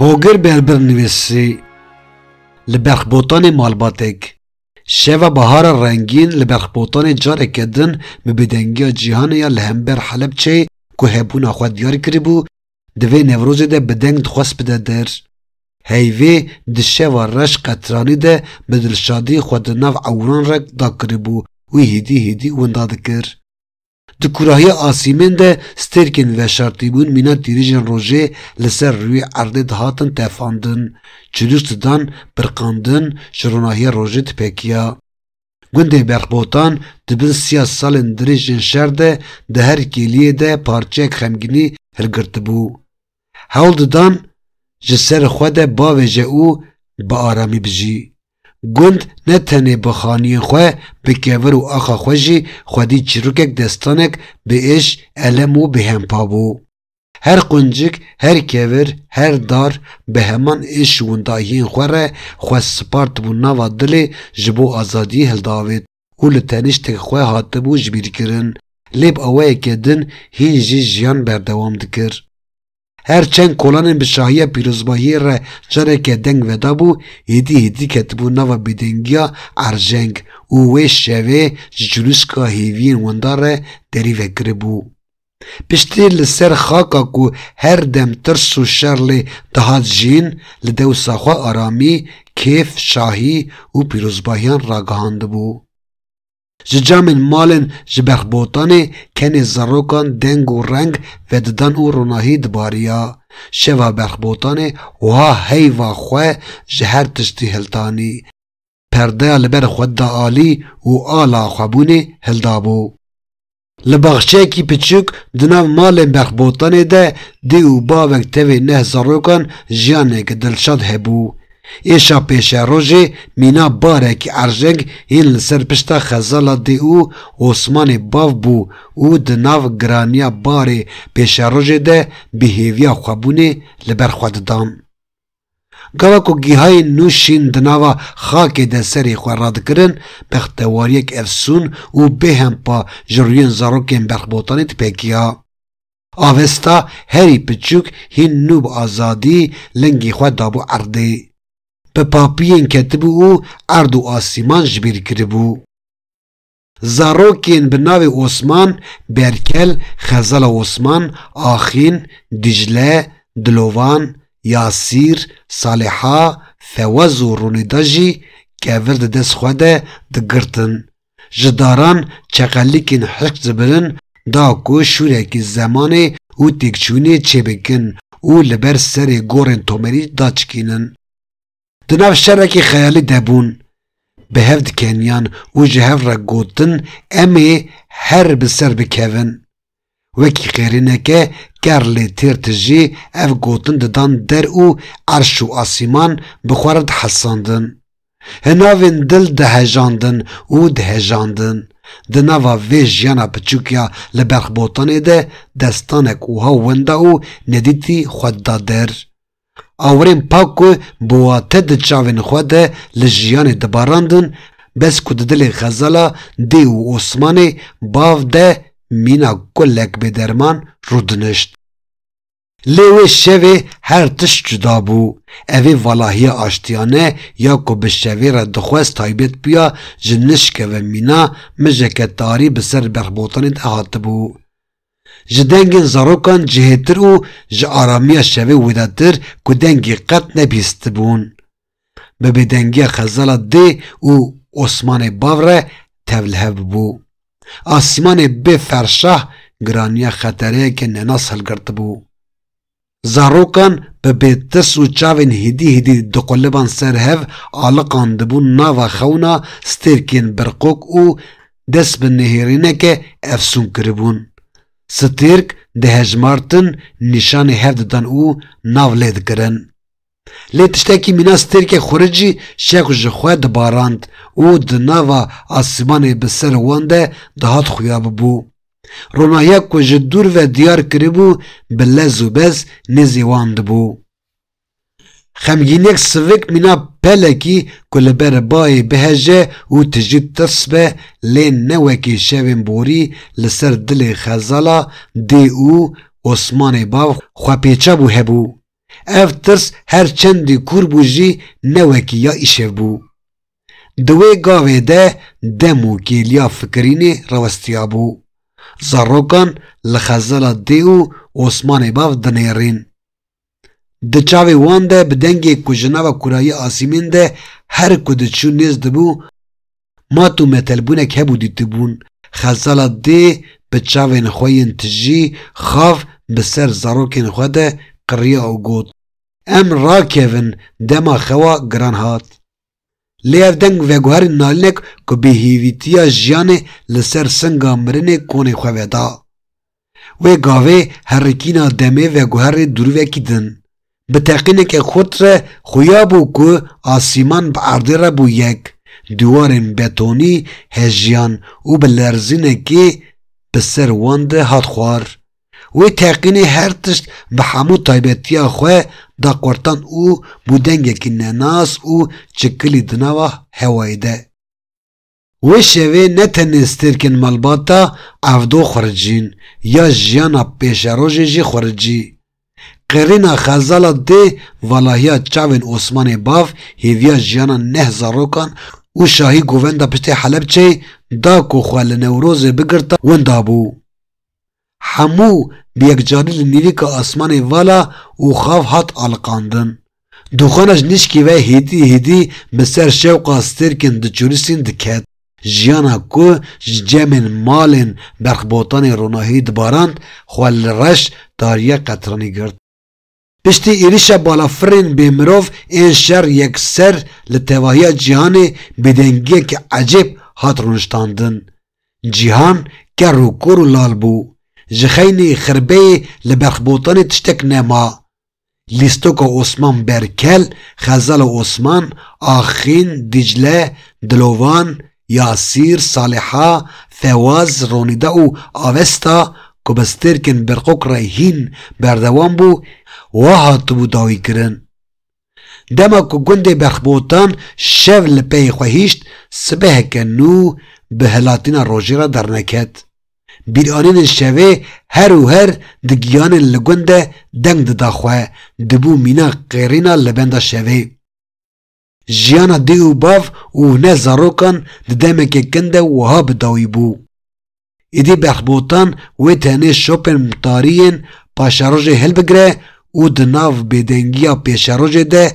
Hogir Berbir nivîsî li berxbotanê malbatek Şeva bahara rengîn li berxbotanê careke din bi bêdengiya cîhanê ya li hember Helepçeyê ku hebûna xwe diyar kiribû, Di vê Newrozê de bi deng dixwest bide der. Heyvê di şeva reş qetranî de bi dilşadî xwe di nav ewran re dakiribû û hîdî hîdî winda dikir. Di kurahiya asîmên de stêrkên veşartîbûn mîna tîrîjên rojê li ser rûyê erdê dihatin tefandin, çilûs didan birqandin, ji ronahiya rojê dipekiya. Gundê Berxbotan di bin siya salên dirêjên şer de di her kêliyê de parçeyek xemgînî hilgirtibû. Hewl didan ji ser xwe de bavêje û bi aramî bijî. Gund ne tenê bi xaniyên xwe, bi kevir û axa xwe jî xwedî çîrokek destanek bi êş, elem û bêhempa bû. Her quncik, her kevir, her dar bi heman êş windayiyên xwe re xwe spartibû nava dilê ji bo azadiyê hildavêt û li teniştek xwe hatibû jibîrkirin, lê bi awayeke din hîn jî jiyan berdewam dikir. Her çend kolanên bi şahiya pîrozbahiyê re careke deng vedabû, êdî êdî ketibû nava bêdengiya erjeng û wê şevê ji culîşka hêviyên windar re derî vekiribû. Piştî li ser xaka ku her dem tirs û şer lê dihat jîn, li dewsa xwe aramî, kêf, şahî û pîrozbahiyan ragihandibû. Ji camên malên ji berxbotanê kenê zarokan deng û reng vedidan û ronahî dibariya. Şeva berxbotanê wiha heyva xwe ji her tiştî hiltanî. perdeya li ber xwe da alî û ala xwebûnê hildabû. Li baxçeyekî piçûk di nav malên Berxbotanê de dê û bavek tevê neh zarokan jiyanek dilşad hebû. Êşa pêşerojê mîna barek erjeng hîn li ser pişta xezala dê û Osmanê bav bû û di nav giraniya barê pêşerojê de bi hêviya xwebûnê li ber xwe didan. Gava ku gihayên nû şîn di nava xakê de serê xwe radikirin, bextewariyek efsûn û bêhempa ji rûyên zarokên berxbotanê dipekiya. Avesta herî piçûk hîn nû bi azadî lingî xwe dabû erdê. Bi papiyên ketibû û erd û asîman ji bîr kiribû. Zarokên bi navê Osman, Berkel, Xezala Osman, Axin, Dicle, Dilovan, Yasîr, Saliha, Fewaz û Rûnîda jî kevir di dest xwe de digirtin. Ji daran çeqelikên hişk dibirin da ku şûrekî zemanê û têkçûnê çêbikin û li ber serê gorên Tomerî daçikînin. Di nav şerekî xeyalî de bûn, bi hev dikeniyan û ji hev re gotin em ê her bi ser bikevin. Wekî qêrîneke ker lê têr tijî ev gotin didan der û erş û asîman bi xwe re dihesandin. Hi navên dil dihejandin û dihejandin. Di nava vê jiyana piçûk ya li berx botanê de destanek wiha wenda û nedîtî xwe dida der. Awirên pak ku bi wate di çavên xwe de li jiyanê dibarandin, bes ku di dilê xezala Dê û Osmanê bav de mîna kulek bêderman rûdinişt. Lê wê şevê her tişt cuda bû. Evê valahiya aştiyane ya ku bi şevê re dixwest taybet bûya ji nişkeve mîna, mijeke tarî bi ser berxbotanê de hatibû. Ji dengên zarokan cihêtir û ji aramiya şevê wêdatir ku dengê qet nebîstibûn. Bi bêdengiya xezala dê û osmanê bav re tevlihev bû. Asîmanê bê ferşah giraniya xetereyeke nenas hilgirtibû. Zarokan bi bêtirs û çavên hêdî hêdî diquliban ser hev, aliqan dibûn nava xewna stêrkên birqok û dest bi nihêrîneke efsûn kiribûn. Stêrk dihejmartin, nîşanê hev didan û nav lê dikirin. Lê tiştekî mîna stêrkê xuric jî şex ji xwe dibarand û di nava asîmanê bi ser wan de dihat xuya bibû. Ronahiya ku ji dûr ve diyar kiribû bi lez û bez nêzî wan dibû. Xemgînek sivik mîna pelekî ku li ber bayê biheje û tijî tirs be lê ne wekî şevên borî li ser dilê xezala dê û Osmanê bav xwepêça bû hebû. Ev tirs her çendî kûr bû jî ne wekî ya îşev bû. Di wê gavê de dem û kêliya fikirînê rawestiyabû. Zarokan li xezala dê û Osmanê bav dinêrîn. Di çavê wan de bi dengê ku ji nava kurayî asîmên de her ku diçû nêz dibû, Mat û metelbûnek hebû dîtibûn Xelsala dê bi çavên xwe yên tijî xav bi ser zarokên xwe de qiriya û got, Em rakevin dema xewa giran hat. Lê ev deng veguherîn nalînek ku bêhêvîtiya jiyanê li ser singa mirinê konê xwe veda. Wê gavê herikîna demê veguherî dûrîvekî din. Bi teqîneke xurt re xuya bû ku asîman bi erdê re bû yek, dîwarên betonî hejiyan û bi lerzînekê bi ser wan de hat xwar. Wê teqînê her tişt bi hemû taybetiya xwe da qurtan û bû dengekî nenas û çikilî di nava hewayê de. Wê şevê ne tenê stêrkên malbata evdo xuricîn ya jiyana pêşerojê jî xuricî. Qirîna xezala dê valahiya çavên Osmanê Bav hêviya jiyana neh zarokan û şahî govenda piştê Helepçeyê da ku xwe li Newrozê bigirta winda bû. Hemû bi yekcarî li nîvîka asmanê vala û xav hat aliqandin. Dûxana ji nişkî ve hîdî hîdî bi ser şewqa stêrkên diçûrisîn diket. Jiyana ku ji cemên, malên, berxbotanê ronahiyî dibarand, xwe li reş tariya qetranî girt. Piştî êrişa balafirên bêmirov ên şer yekser li tevahiya cîhanê bêdengiyeke ecêb hat rûniştandin. Cîhan ker û kor û lal bû. Ji xeynî xirbeyê li berxbotanê tiştek nema. Lîstoka Osman Berkel, Xezala Osman, Axîn, Dîcle, Dilovan, Yasîr, Saliha, Fewaz, Ronîda û Avesta ku bi stêrkên Berqok re hîn berdewam bû, wa hatibû dawîkirin, Dema ku gundê Berxbotan şev li peyê xwe hişt, sibeheke nû bi hilatîna rojê re derneket. Bîranînên şevê her û her di giyanên li gund de deng dida xwe, dibû mîna qêrîna li benda şevê. Jiyana dê û bav û hune zarokan di demekê kin de wiha bi dawî bû. Îdî Behbotan wê tenê şopên mtariyên paşerojê hilbigire û di nav bêdengiya pêşerojê de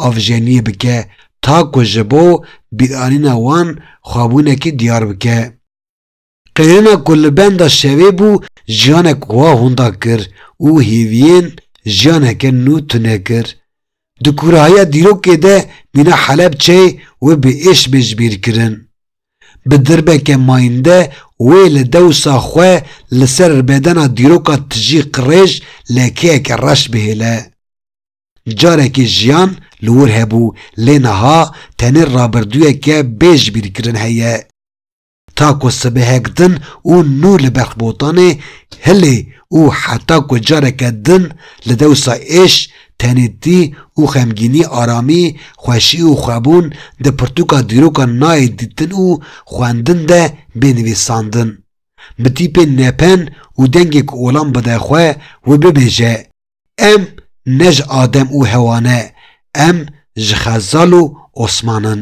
avjeniyê bike ta ku ji bo bîranîna wan xwebûnekî diyar bike. Qeyûna ku li benda şevê bû jiyanek wa hûnda kir û hêviyên jiyaneke nû tune kir. Di kûrahiya dîrokê de mîna Helepçeyê wê bi êş bê ji bîr kirin. Bi dirbeke mayinde wê li dewsa xwe li ser ribedena dîroka tijî qirêj lekeyeke reş bihêle. Carekê jiyan li wir hebû lê niha tenê rabirdûyeke bê ji bîr kirin heye. Ta ku sibehek din û nû li berx botanê hilê û heta ku careke din li dewsa êş, tenêtî û xemgînî aramî, xweşî û xwebûn di pirtûka dîrokan nayê dîtin û xwendin de bê nivîsandin. Bi tîpên nepen û dengê ku olam bide xwe û bibêje, Em ne ji adem û hewa ne, em ji xezal û osman in.